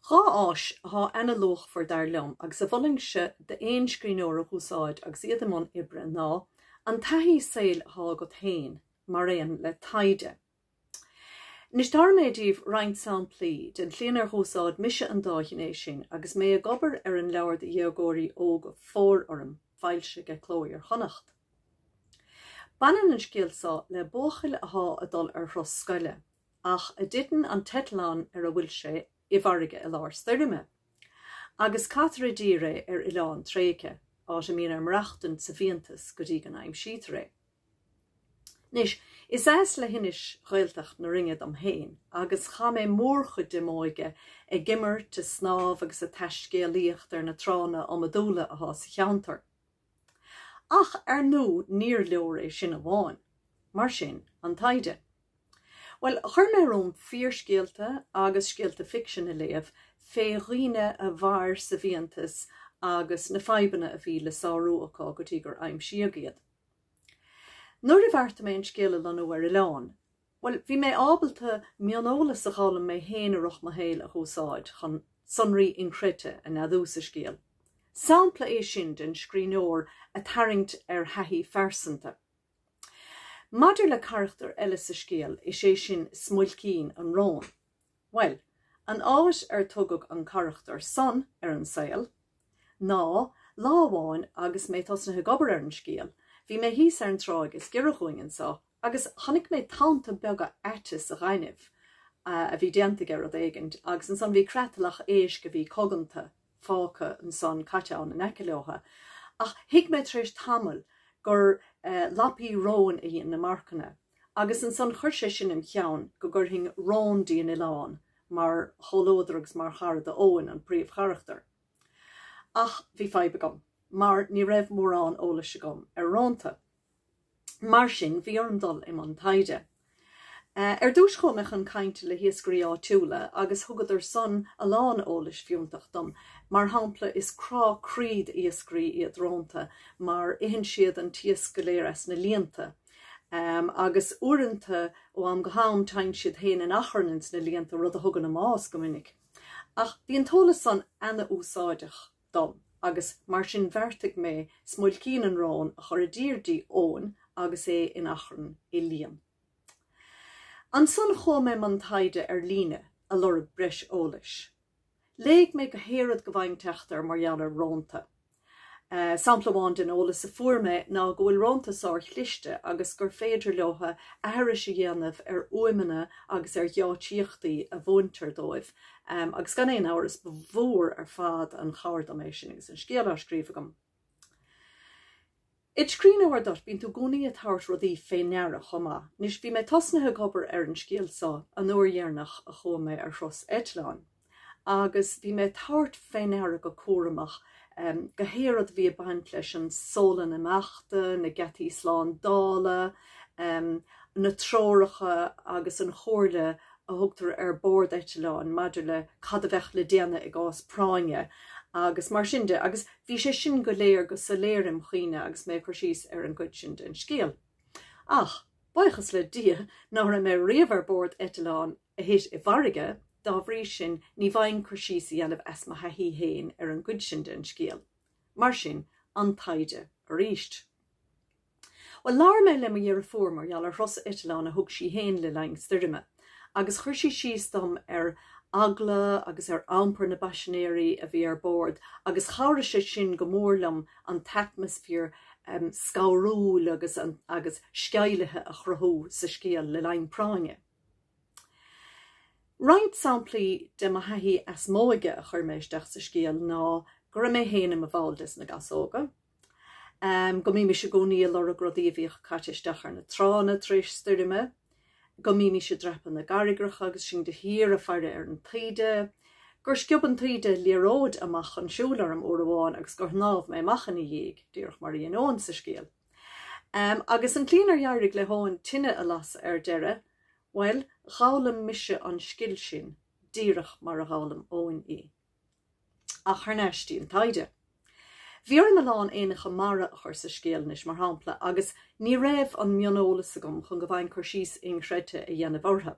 Dhá áis athá ana-luachmhar, dar liom, agus a mholfainnse d'aon scríbhneoir a úsáid agus iad i mbun oibre ná an taithí saoil athá agat féin mar aon le taighde. Anois, tabharfaidh mé daoibh roinnt samplaí den tslí inar dh'úsáid mise an dá ghné sin agus mé ag obair ar an leabhar do dhéagóirí óga, Fóir Orm, foilsithe ag Cló Iar-Chonnacht. Baineann an scéal so le buachaill athá a dul ar thuras scoile, ach a dtiteann an t-eitleán ar a bhfuil sé i bhfarraige i lár stoirme, agus caithtear i dtír é ar oileán tréigthe, áit a mbíonn air maireachtaint sa bhfiántas go dtí go n-aimsítear é. Anois, is as leithinis Ghaeltacht na Rinne dom féin, agus chaith mé mórchuid de m'óige ag imirt, a snámh agus a taiscéalaíocht ar na tránna iomadúla athá sa cheantar. Ach ar ndú níor leor é sin amháin. Mar sin, an taighde. Bhuel, chuir mé romham fíorscéalta agus scéalta ficsin a léamh fé dhaoine a mhair sa bhfiántas agus na fadhbanna a bhí le sárú acu go dtí gur aimsíodh iad. Nuair a bheartaigh mé an scéal a lonnú ar oileán, Bhuel, bhí mé ábalta mioneolas a dh'fhoghlaim mé féin i rith mo shaoil a úsáid chun sonraí inchreidte a neadú sa scéal. Sampla é sin den scríbhneoir a tarraingt ar thaithí phearsanta. Maidir le carachtar eile sa scéal, is é sin Smuilcín an Róin. Bhuel, an áit ar tugadh an carachtar san ar an saol ná, lá amháin agus mé tosnaithe ag obair ar an scéal, bhí mé thíos ar an tráigh is giorra dhúinn anso, Agus chonaic mé tonnta beaga aite sa ghaineamh a bhí déanta aige rud éigint, agus ansan bhí creatalach éisc a bhí coganta fágtha ansan, caite ann in aice leotha. Ach thuig mé tar éis tamaill gur lapaí róin a dhein na marcanna, agus ansan chuir sé sin im cheann go gcuirfinn rón dtí an oileán mar chomhluadar agus mar chara do Eoin, an príomhcharachtar. Ach bhí fadhb agam, mar ní raibh mórán eolais agam ar rónta. Mar sin, bhí orm dul i mbun taighde. Ar dtús, chuaigh mé chun cainte le hiascairí áitiúla agus thugadar san a lán eolais fiúntach dom. Mar shampla, is crá croí d'iascairí iad rónta mar itheann siad an t-iasc go léir as na líonta. Agus uaireanta, ó am go ham, teigheann siad féin in achrann ins na líonta, rud a thugann a mbás go minic. Ach bhí an t-eolas san ana-úsáideach. dom agus mar sin bheartaigh mé smuilcín an róin a chur i dtreo Eoin, agus é in achrann i líon. Ansan chuaigh mé mbun taighde ar líne, a lorg breis eolais. Léigh mé gach aon rud go bhfaighinn teacht air mar gheall ar rónta. Sampla amháin den eolas a fuair mé ná go bhfuil rónta sár-chliste agus gur féidir leo aithris a dhéanamh ar fhuaimeanna agus ar gheáitsíochtaí a mhúintear dóibh, Agus gan aon amhras, ba mhór ar fad an chabhair dom é sin agus an scéal á scríobh agam. Id' scríbhneoir duit, bíonn tú i gcónaí ag tabhairt rudaí fé ndeara chomh maith. Anois, bhí mé tosnaithe ag obair ar an scéal so an uair dheirneach a chuaigh mé ar thuras eitleáin, agus bhí mé ag tabhairt fé ndeara go cúramach gach aon rud a bhí ag baint leis an seomra imeachta, na geataí slándála, na treoracha agus an chomhairle a thugtar ar bord eitleáin maidir le cad a bheadh le déanamh i gcás práinne agus mar sin de agus bhí sé sin go léir go soiléir im' chuimhne agus mé ag cur síos ar an gcuid sin den scéal. Ach, buíochas le Dia, ná raibh mé riamh ar bord eitleáin a thit i bhfarraige, dá bhrí sin ní bhfaighinn cur síos a dhéanamh as mo thaithí fhéin ar an gcuid sin den scéal. Mar sin, an taighde aríst. Bhuel, labhair mé le mo dheirfiúr mar gheall ar thuras eitileáin a thug sí féin le linn stoirme agus chuir sí síos dom ar eagla agus ar iompar na bpaisinéirí a bhí ar bord agus chabhraigh sé sin go mór liom an t-atmaisféar scanrúil agus sceimhlithe a chruthú sa scéal le linn práinne. Roinnt samplaí de mo thaithí as m'óige a chuir mé isteach sa scéal ná go raibh mé féin i mo bhall des na Gasóga, Am, go mbímis i gcónaí ag lorg rudaí a bhíodh caite isteach ar na tránna tar éis stoirme, go mbímis ag dreapadh na gcarraigreacha agus sinn de shíor ag faire ar an taoide, gur sciob an taoide liathróid amach chun siúil orm uair amháin agus gur shnámh mé amach ina diaidh, díreach mar a dhein Eoin sa scéal. Am, agus an tslí inar éirigh le hEoin tine a lasadh ar deireadh, bhuel, d'fhoghlaim mise an scil sin díreach mar a d'fhoghlaim Eoin í. Ach thar n-ais dtí an taighde. Bhí orm a lán éanacha mara a chur sa scéal anois, mar shampla, agus ní raibh an mioneolas agam chun go bhfaighinn cur síos inchreidte a dhéanamh orthu.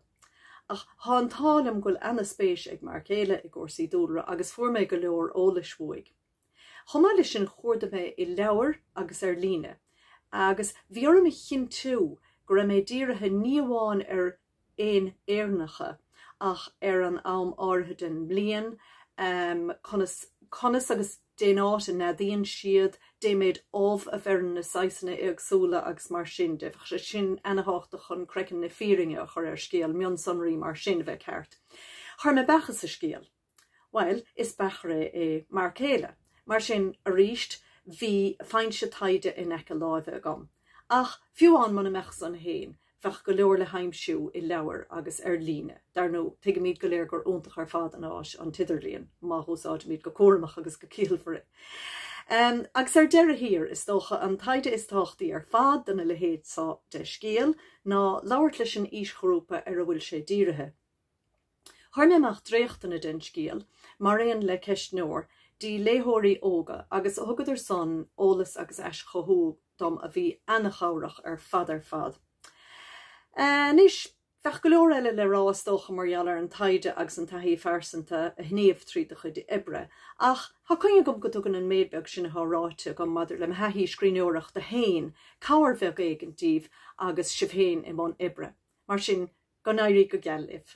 Ach tá an t-ádh liom go bhfuil ana-spéis ag m'fhear céile i gcúrsaí dúlra agus fuair mé go leor eolais uaidh. Chomh maith leis sin chuardaigh mé i leabhair agus ar líne agus bhí orm a chinntiú go raibh mé dírithe ní amháin ar éin Éireannacha ach ar an am áirithe den mbliain, conas agus dén áit a neadaíonn siad, dé méid ubh a bheireann na saghasanna éagsúla agus mar sin de. Bheadh sé sin ana-thábhachtach chun craiceann na fírinne a chur ar scéal, mionsonraí mar sin, a bheith ceart. Chuir mé beacha sa scéal. Bhuel, is beachaire é mo chéile, mar sin, arís, bhí foinse taighde in aice láimhe agam. Ach fiú ann muna mbeadh san fhéin, bheadh go leor le haimsiú i leabhar agus ar líne, dar ndóigh. Tuigimid go léir gur iontach ar fad an áis an t-idirlíon, má húsáidimid go cúramach agus go ciallmhar é. Agus ar deireadh thiar, is dócha, an taighde is tábhachtaí ar fad dá leithéid seo de scéal, ná labhairt leis an aoisghrúpa ar a bhfuil sé dírithe. Chuir mé amach dréachtanna den scéal, maraon le ceistneoir, go dtí léitheoirí óga agus thugadar san eolas agus aischothú dom a bhí ana-chabhrach ar fad ar fad. Anois, bheadh go leor eile le rá is dócha mar gheall ar an taighde agus an taithí phearsanta a shníomh tríd do chuid oibre, ach tá coinne agam go dtugann an méid beag sin athá ráite agam maidir le mo thaithí scríbhneoireachta fhéin cabhair bheag éigin díbh agus sibh fhéin i mbun oibre. Mar sin, Go n-éirí go geal libh!